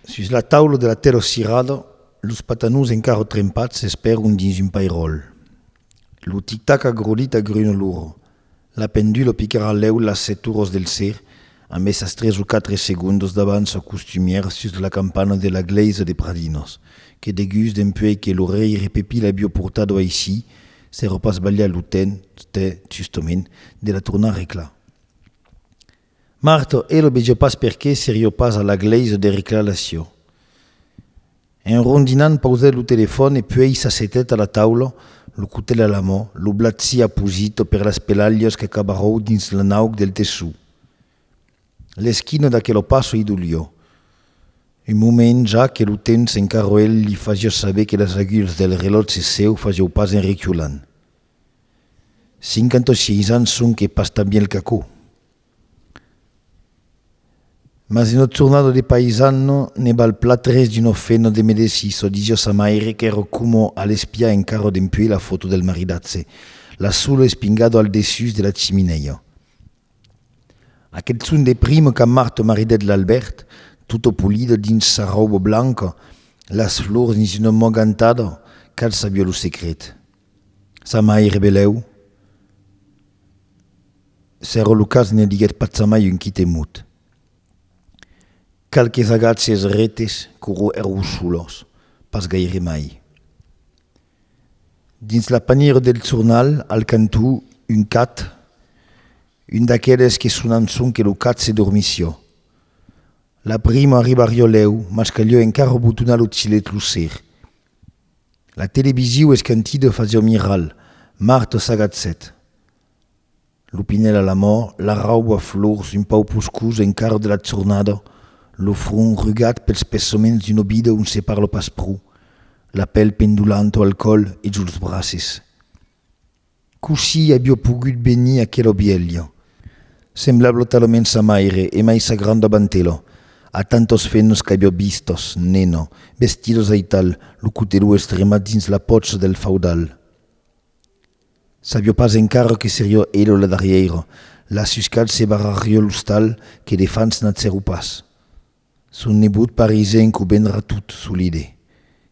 Sus la taula de la tèrra cirada, los patanons encara trempats s'esperon dins un pairòl. Lo tic-tac agrodit agruna l'ora. La pendula picarà lèu las sèt oras del ser, amesas tres o quatre segondas d'avança costumièra sus la campana de la glèisa de Pradinas, que degús dempuèi que lo rèire Pepí l'aviá portada aicí, s'èra pas balhat lo temps, tè, justament, de la tornar reclar. Marto, E lo vejo pas perqué serio pas a la glèisa de reclalar çò. En rondinant pausèt lo telefòn e puèi s'assetèt a la taula, lo cotèl a la mò, lo blat siá posit per las pelalhas que cabarrou dins l'anauc del tessó. L'esquina d'aquelo passo i dolió. Un moment ja que lo temps en carroèl li fasiá saber que las agulhas del relòtge seu fasiáu pas en reculant. Cinquanta-sièis ans sonque pas tan bielh qu'aquò. Mas un tornado de paisano ne val plat res d'un ofeno de medecís o disió sa maire qu'èro coma a l'espiar encara dempuèi la foto del maridatge, la solo espingado al dessús de la chiminèia. Aquel son de primo qu'a marto maridet l'Albèrt, tota polida dins sa rauba blanca, las flors dins una mogantada, cal sabió lo secret. Sa maire belèu, Sero Lucas ne diguèt pas sa mai un quite mot. Qualques agatges retes qu'oro èrou solos, pas gaire mai. Dins la panièra del jornal, al cantó, un cat, un d'aqueles que sonan sonque lo cat se dormissió. La prima arribarió lèu, mas calió encara botonar lo chilet lo ser. La televisiu esquentida fa jomiral, Marta s'agatzèt. Lo pinèl a l'amor, la rauba flors un pauc poscusa encara de la jornada, lo front rugat pels pesaments d'una vida ont se parla pas pro, la pel pendulanta al còl e juls braces. Cossí avió pogut venir aquelo vielho, semblablo talament sa maire e mai sa granda bantelho, a tantos fennos qu'avió vistos, neno, vestidos aital, lo cotelou estremat dins la pòcha del faudal? Savió pas encara que serió elo la darrièira, la suscalh se barrarió l'ostal que de fans n'atzèro pas. Son nebot parisenc qu'o vendrà tot solide,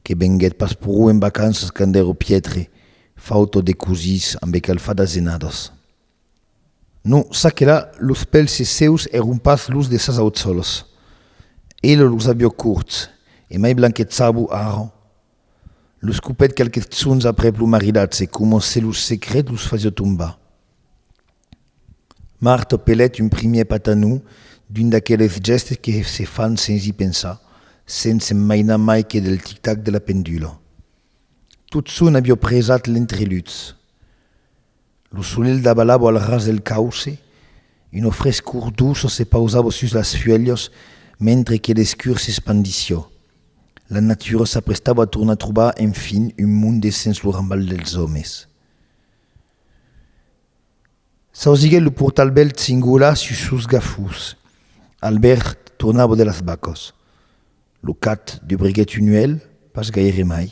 que venguèt pas pro en vacanças quand ère Pietre, fautor de cosís ambe cal far d'azenadas. Non, ça que là, los pelses sèus èron pas los de sas auçòlas. Ela los avió corts, e mai blanquets sabò ara. Los copèt qualques tzons aprèp lo maridatge coma se lo secret los fasió tombar. Marthe pelèt un primièr patanou, d'un d'aqueles gèstes que se fan sens i pensar, sens se'n mainar mai que del tic-tac de la pendula. Tot son aviá presat l'entreluts. Lo solelh davalava al ras del cauce, una frescor doça se pausava sus las fuèlhas mentre que l'escur s'espandissiá. La natura s'aprestava a tornar trobar enfin un monde sens lo rambal dels òmes. S'ausiguèt lo portal bèlt singular sus sos gafús. Albèrt tornava de las bacas. Lo cat dubriguèt un uèlh, pas gaire mai.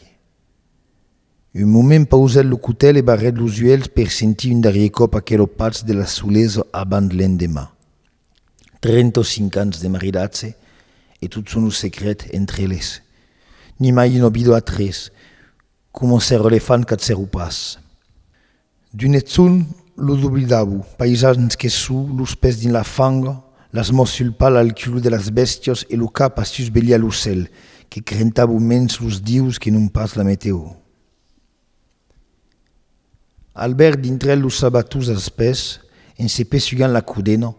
Un moment pausèt lo cotèl e barrèt los uèlhs per sentir un darrièr còp aquelo patz de la solesa abans l'endeman. Trenta o cinc ans de maridatge e tot son lo secret entre eles. Nimai un obido a tres, Coma ser elefant qu'ath seru pas. D'un eth son lo doblidabo, paisans que sou los pès dins la fanga, las mòs sul pal al culo de las bèstias e lo cap a sus veliá lo cèl, que crentabo mens los dius que non pas la meteo. Albèrt dintre los sabatons als pès, en se pessugant la codena,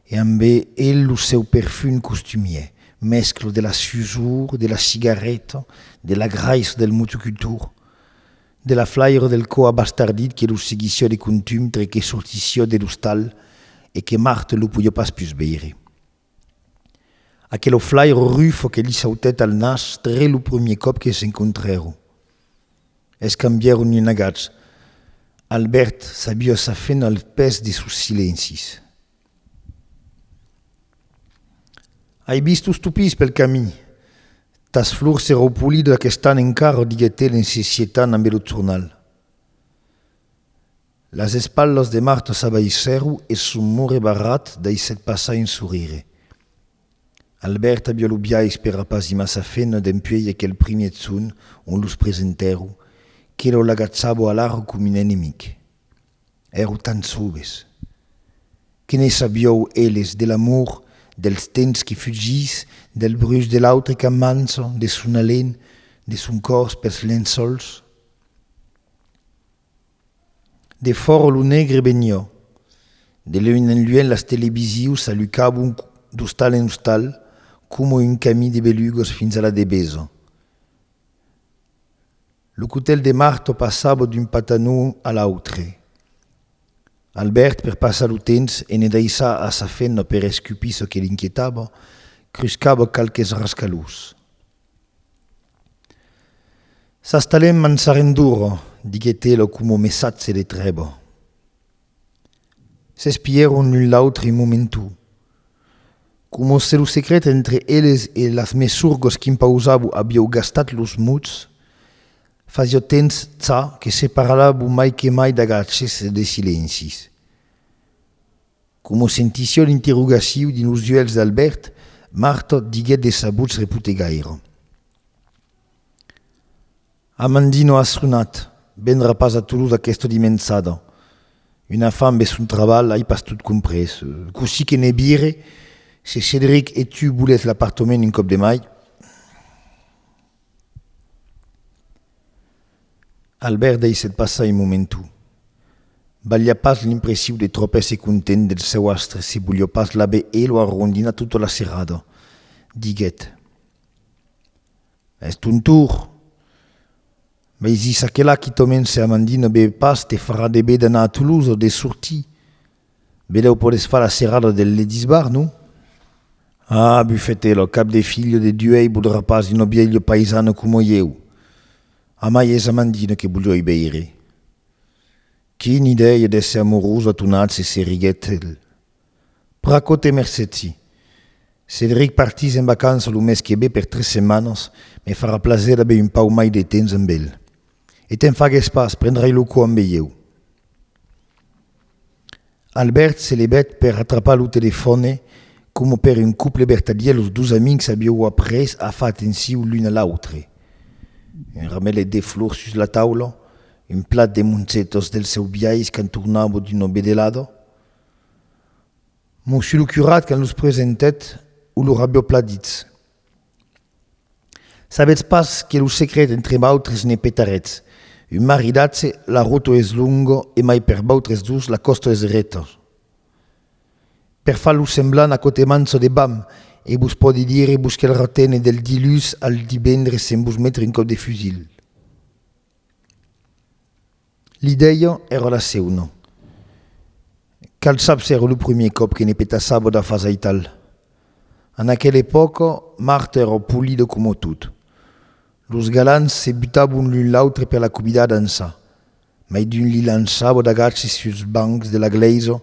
e amb e lo seu perfum costumier, mèscla de la susor de la cigarreta, de la graissa del motocultor, de la flaira del cò abastardit que lo seguissiá de contum tre que sortissiá de l'ostal e que Marthe lo podiá pas pus veire. Aquelo flaire rufo que li sautèt al nas tre lo premier còp que s'encontrèron. Escambièron un agach. Albèrt s'abió sa fena al pes de sos silencis. Ai vist los tupís pel camin. Tas flors se raupolidon aquest'an encara, diguèt el en se sietant ambe lo jornal. Las espalhas de Marta s'abaissèru e son more barrat daissèt passar un sorire. Albèrt aviá lo biais per rapaz i massa fena dempuèi aquel primièr son ont los presentèru que lo l'agachava a l'Arro com un enemic. Èru tan soves! Que ne sabiou eles de l'amor, dels tens que fugís, del bruch de l'autre qu'amança, de son alen, de son còrs pels lençòls? De fòro lo negre benhò. De luènh en luènh las televisius s'alucabon d'ostal en ostal coma un camí de belugos fins a la debeso. Lo cotèl de marto passava d'un patanon a l'autre. Albèrt, per passar lo temps e ne daissar a sa femna per escupir çò que l'inquietava, cruscava qualques rascalhós. S'astalèm en Sarrenduro, diguèt-e lo comò messatge de Trèbo. S'espièron l'un l'autre un momentu, comò se lo secret entre eles e las mesurgos qu'impausabo avió gastat los mots, fasió temps ça que se parlavo mai que mai d'agachs e de silencis. Coma sentission interrogaciu dins los uèlhs d'Albèrt, Marta diguèt de sabuts repotegaire. Amandino as sonat, vendrà pas a Toulouse aquesta dimençada. Una fam e son trabalh, ai pas tot comprés. Cossí que ne vire, se Cedric e tu volètz l'apartament un còp de mai. Albèrt deishèt passar un momentu. Balhia pas l'impressiu de tròp èsser content del sèu astre se volió pas l'aver e lo arrondinat tota la serrada. Diguèt. Es ton tour! Mei zis aquela quitòmen se Amandine be pas te farà de be d'anar a Toulouse o de sortir. Belèu podes far la serrada del Ledisbar, non? Ah, bufète, lo cap de filho de Duèi bodrà pas d'un obielho paisano coma ieu. Amai es Amandina que bolhoi beire. Quina idèia d'èsser amorosa tonatz se serriguèt el. Pracote mercetsi. Cedric partís en vacança lo mes que ve per tres setmanas, me farà plaser d'aver un pauc mai de temps amb el. E te'n fagues pas, prendrai lo cò ambe ieu. Albèrt se levèt per atrapar lo telefòne, coma per un couple vertadièr los dos amics aviáu après a far atenciu l'un a l'autre. Un ramelet de flors sus la taula, un plat de moncetos del seu biais quand tornava d'una vedelada. Monsieur lo curat quand los presentèt, o lor aviáu plan ditz. Sabetz pas que lo secret entre vautres ne petaretz, un maridatge la roto es longo e mai per vautres dos la costo es reto. Per far lo semblant aquò te manço de bam e vos pòdi dire vos que'l retene del dilhus al divendres sen vos metre un còp de fusil. Li dèia era la seuna. Cal sap s'èra lo primier còp que ne petassava da fas aital. En aquela epòca, Marthe èra polida coma tot. Los galants se butavon l'un l'autre per la cobidar d'ençà. Mai d'un li lançava d'agaci suls bancs de la glèisa.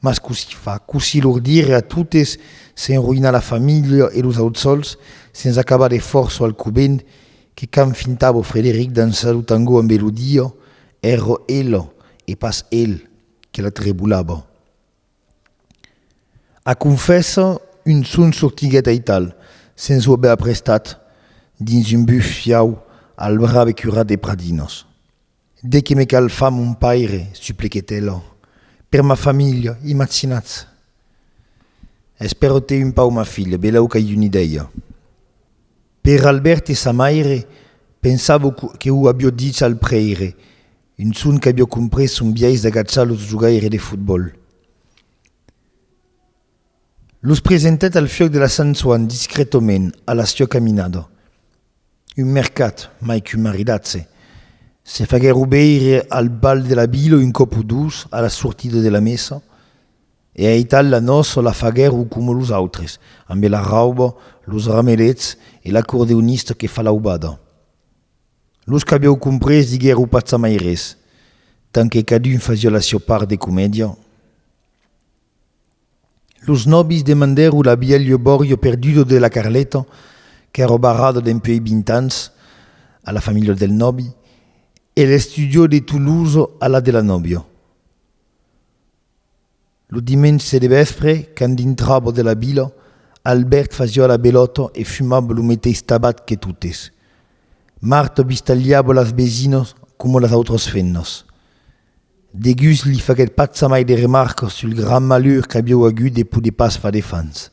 Mas cossí fa? Cossí lor dire a totes s'enroïnar la familha e los auts sols, sens acabar de fòrça al covent, que quand fintavo Frederic dançar lo tango en melodia, èra ela, e pas el, que la trebolava? A confessa, un son sortiguèt aital, sens o aver aprestat, dins un bufiau al brave curat de Pradinas. De qué me cal far mon paire, suppliquèt ela, per ma familha, imatzinatz! Es però te un pau ma filha, belèu qu'ai una idèia. Per Albèrt e sa maire, pensavo que o avió dich al prèire, un son qu'avió comprés son biais d'agachar los jogaires de fotbòl. Los presentèt al fiòc de la Sant Soan discrètament a la siò caminada. Un mercat, mai qu'un maridatge. Se faguèro veire al bal de la vila un còp o dos a la sortida de la messa, e aital la nòça la faguèro coma los autres, ambe la rauba, los ramelets e l'acordeonista que fa l'aubada. Los qu'avièu comprés diguèro pas jamai res, tant que cadun fasiá la siò part de comèdia. Los nòbis demandèro la bielho bòrjo perdudo de la Carleta, qu'èro barrada dempuèi vint ans a la familha del nòbi, e l'estudio de Toulouse a la de la nòbia. Lo dimenge de vèspre, quand dintrava de la vila, Albèrt fasiá la belòta e fumava lo meteis tabac que totes. Marta bistalhiava las besinas coma las autras femnas. Degus li faguèt pas jamai de remarcas sul grand malur qu'avieu agut de poder pas far de fans.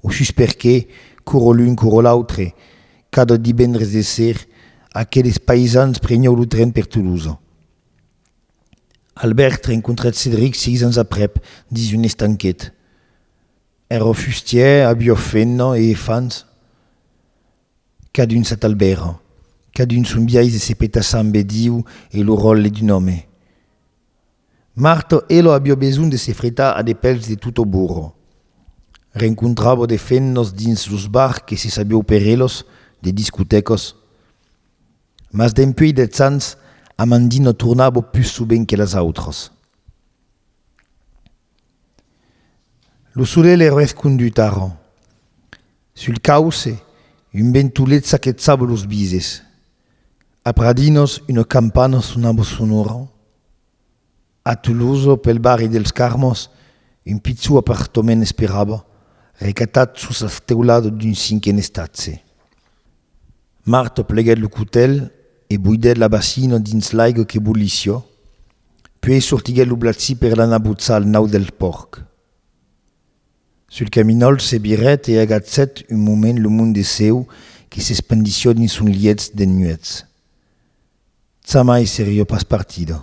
O sus perqué, curo l'un curo l'autre, cada divendres de ser, aqueles païsans prenieu lo tren per Tolosa. Albèrt rencontrèt Cedric seis ans aprèp, dins un estanquet. Èra fustièr, aviá fenna e fans. Cadun sa talbèra, cadun son biais de se petar sambe Diu e lo ròtle d'un òme. Martò Elo avió besonh de se fretar a de pèls de tot o burro. Rencontravò de fennos dins los bars que se sabió per elos de discotècos. Mas dempuèi dètz ans, Amandino tornavò pus sovent que las autras. Lo solelh es rescondut ara. Sul cauce, un ventolet saquetsava los bises. A Pradinos, una campana sonava sonora. A Tolosa, pel barri dels Carmes, un pichon apartament esperava, recatat sus las teuladas d'un cinquen estatge. Marta pleguèt lo cotèl e buidèt la basina dins l'aiga que bollissiá, puèi sortiguèt lo blatzi per l'anar botzar al nau del pòrc. Sul caminòl se virèt e agachèt un moment lo mond de cèu que s'espandissiá dins son lièch de nuèchs. Jamai seriá pas partida.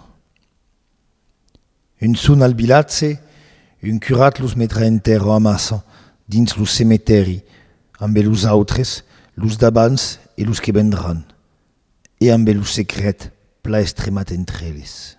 Un son al vilatge, un curat los metrà entèrra a massa dins lo cemetèri ambe los autres, los d'abans e los que vendràn, e ambe lo secret pla estremat entre eles.